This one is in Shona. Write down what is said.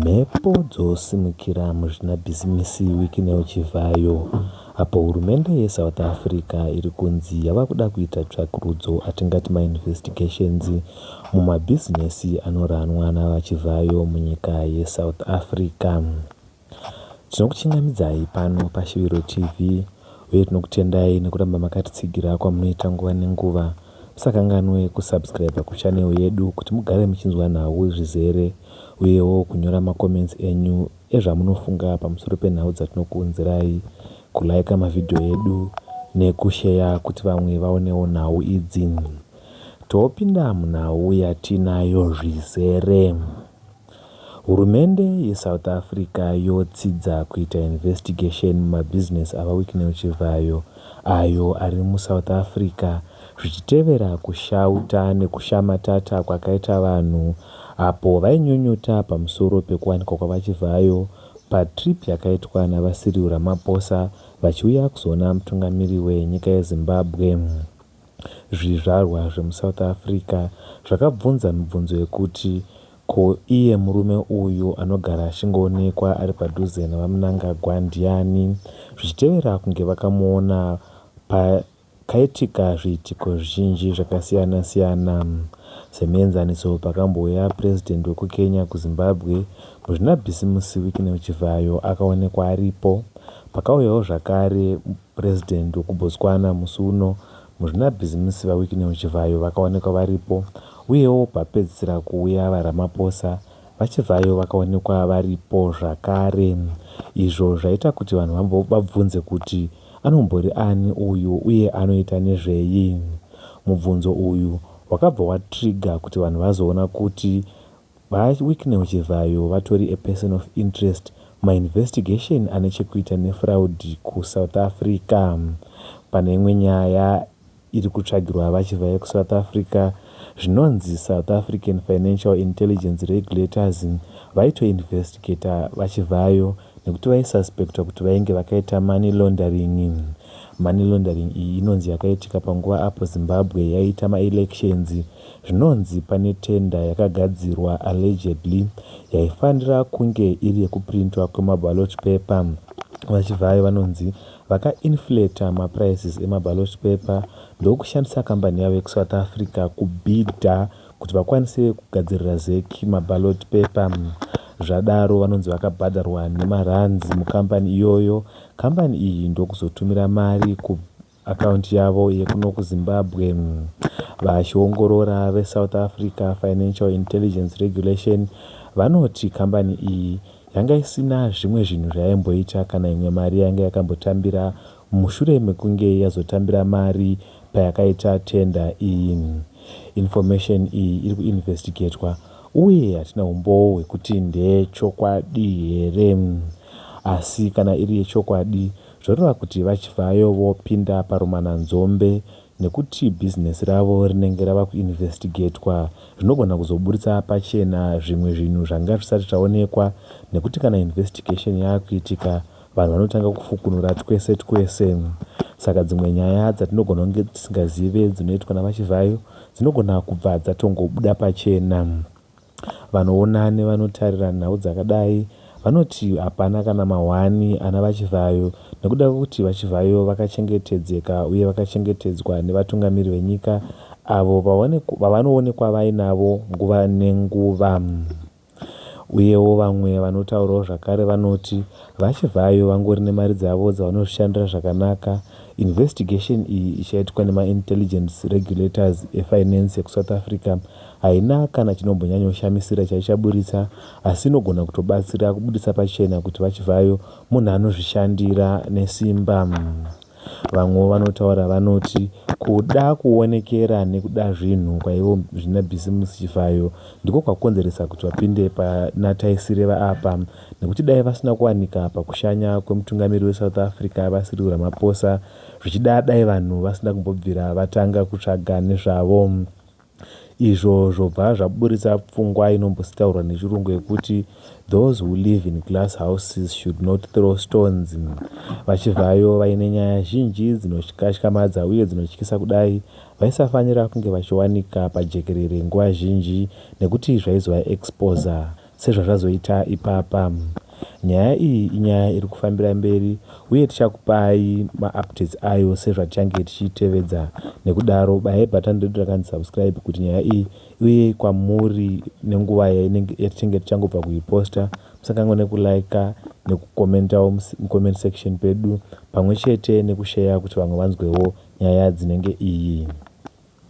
Mhepo dzosimukira muzvinabhizimisi wiki newiki zvayo apo hurumende yeSouth Africa iri kunzi yava kuda kuita tsvakurudzo, atingati mainvestigations, mumabhizinesi anoranwa naVaChivhayo munyika yeSouth Africa. Tinokuchingamidzai pano paShuviro TV uye tinokutendai nekuramba makatitsigira kwamunoita nguva nenguva. Musakanganwe kusubscriber kuchannel yedu kuti mugare muchinzwa nhau zvizere uyewo kunyora macomments enyu ezvamunofunga pamusoro penhau dzatinokuunzirai, kuliker mavhidhiyo edu nekusheya kuti vamwe vaonewo nhau idzi. Topinda munhau yatinayo zvizere. Hurumende yeSouth Africa yotsidza kuita investigation mumabhizinesi aVaWicknell Chivhayo ayo ari muSouth Africa zvichitevera kushauta nekushamatata kwakaita vanhu apo vainyunyuta pamusoro pekuwanikwa kwaVaChivhayo patrip yakaitwa naVaCyril Ramaphosa vachiuya kuzoona mutungamiri wenyika yeZimbabwe. Zvizvarwa zvemuSouth Africa zvakabvunza mibvunzo yekuti, Ko iye murume uyu anogara achingoonekwa ari padhuze naVaMnangagwa ndiani? zvichitevera kunge vakamuona pakaitika zviitiko zvizhinji zvakasiyana-siyana. Semuenzaniso, pakambouya Purezidhendi wekuKenya kuZimbabwe, Muzvinabhisimusi Wycliffe Chivhayo akaonekwa aripo. Pakauyawo zvakare. President wekuBotswana musi uno, muzvinabhizimisi VaWicknell Chivhayo vakaonekwa varipo, uyewo papedzisira kuuya VaRamaphosa, VaChivhayo vakaonekwa varipo zvakare, izvo zvaita kuti vanhu vabvunze kuti anombori ani uyu uye anoita nezvei. Mubvunzo uyu wakabva watrigger kuti vanhu vazoona kuti Mai Wicknell Chivhayo vatori a person of interest muma investigation ane chekuita nefraud kuSouth Africa. Pane imwe nyaya iri kutsvagirwa VaChivhayo kuSouth Africa zvinonzi South African Financial Intelligence Regulators vaito investigator VaChivhayo nekuti vaisuspectwa kuti vainge vakaita money laundering. Money laundering iyi inonzi yakaitika panguva apo Zimbabwe yaiita maelections Zvinonzi pane tender yakagadzirwa allegedly yaifanira kunge iri yekuprintwa kwemaballot paper. VaChivhayo vanonzi vakainflater maprices emaballot paper ndokushandisa kambani yavo yekuSouth Africa kubhidha kuti vakwanise kugadzirira Zec maballot paper. Zvadaro vanonzi vakabhadharwa nemarands mukambani iyoyo, kambani iyi ndokuzotumira mari ku account yavo yekuno kuZimbabwe. Vachiongorora veSouth Africa Financial Intelligence Regulation vanoti kambani iyi yanga isina zvimwe zvinhu zvayaimboita kana imwe mari yanga yakambotambira mushure mekunge yazotambira mari payakaita tender iyi. Information iyi iri kuinvestigatwa uye hatina umbowo hwekuti ndeyechokwadi here. Asi kana iri yechokwadi, Zvoreva kuti VaChivhayo vopinda parumananzombe nekuti bhizinesi ravo rinenge rava kuinvhesitigetwa zvinogona kuzoburitsa pachena zvimwe zvinhu zvanga zvisati zvaonekwa nekuti kana investigation yaakuitika vanhu vanotanga kufukunura twese twese saka dzimwe nyaya dzatinogona kunge tisingazive dzinoitwa naVaChivhayo dzinogona kubva dzatongobuda pachena. Vanoona nevanotarira nhau dzakadai vanoti hapana kana mahwani ana VaChivhayo nekuda kwekuti VaChivhayo vakachengetedzeka uye vakachengetedzwa nevatungamiri venyika avo vavanoonekwa vainavo nguva nenguva. Uyewo vamwe vanotaurawo zvakare vanoti VaChivhayo vangori nemari dzavo dzavanozvishandira zvakanaka. Investigation iyi ichaitwa nemaIntelligence Regulators eFinance ekuSouth Africa Haina kana chinombonyanyoshamisira chaichaburitsa asi inogona kutobatsira kubuditsa pachena kuti VaChivhayo munhu anozvishandira nesimba. Vamwewo vanotaura vanoti kuda kuonekera nekuda zvinhu kwaivo zvina Bhisimusi Chivhayo ndiko kwakonzeresa kuti vapinde pana Taisireva apa nekuti dai vasina kuwanika pakushanya kwemutungamiri weSouth Africa VaCyril Ramaphosa zvichida dai vanhu vasina kumbobvira vatanga kutsvaga nezvavo. izvo zvobva zvaburitsa pfungwa inombositaurwa nechirungu yekuti those who live in glass houses should not throw stones vachivhayo vaine nyaya zhinji dzinotyamadza uye dzinotyisa kudai vaisafanira kunge vachiwanika pajekerere nguva zhinji nekuti zvaizova exposer Sezvazvazoita ipapa. Nyaya iyi inyaya iri kufambira mberi uye tichakupai maupdates ayo sezvatichange tichiitevedza. Nekudaro bayai button redu rakanzi subscribe kuti nyaya iyi iuye kwamuri nenguva yainenge yatichange tichangobva kuiposta. Musakanganwe nekuliker nekucommentawo mucomment section pedu pamwe chete nekusheya kuti vamwe vanzwewo nyaya dzinenge iyi.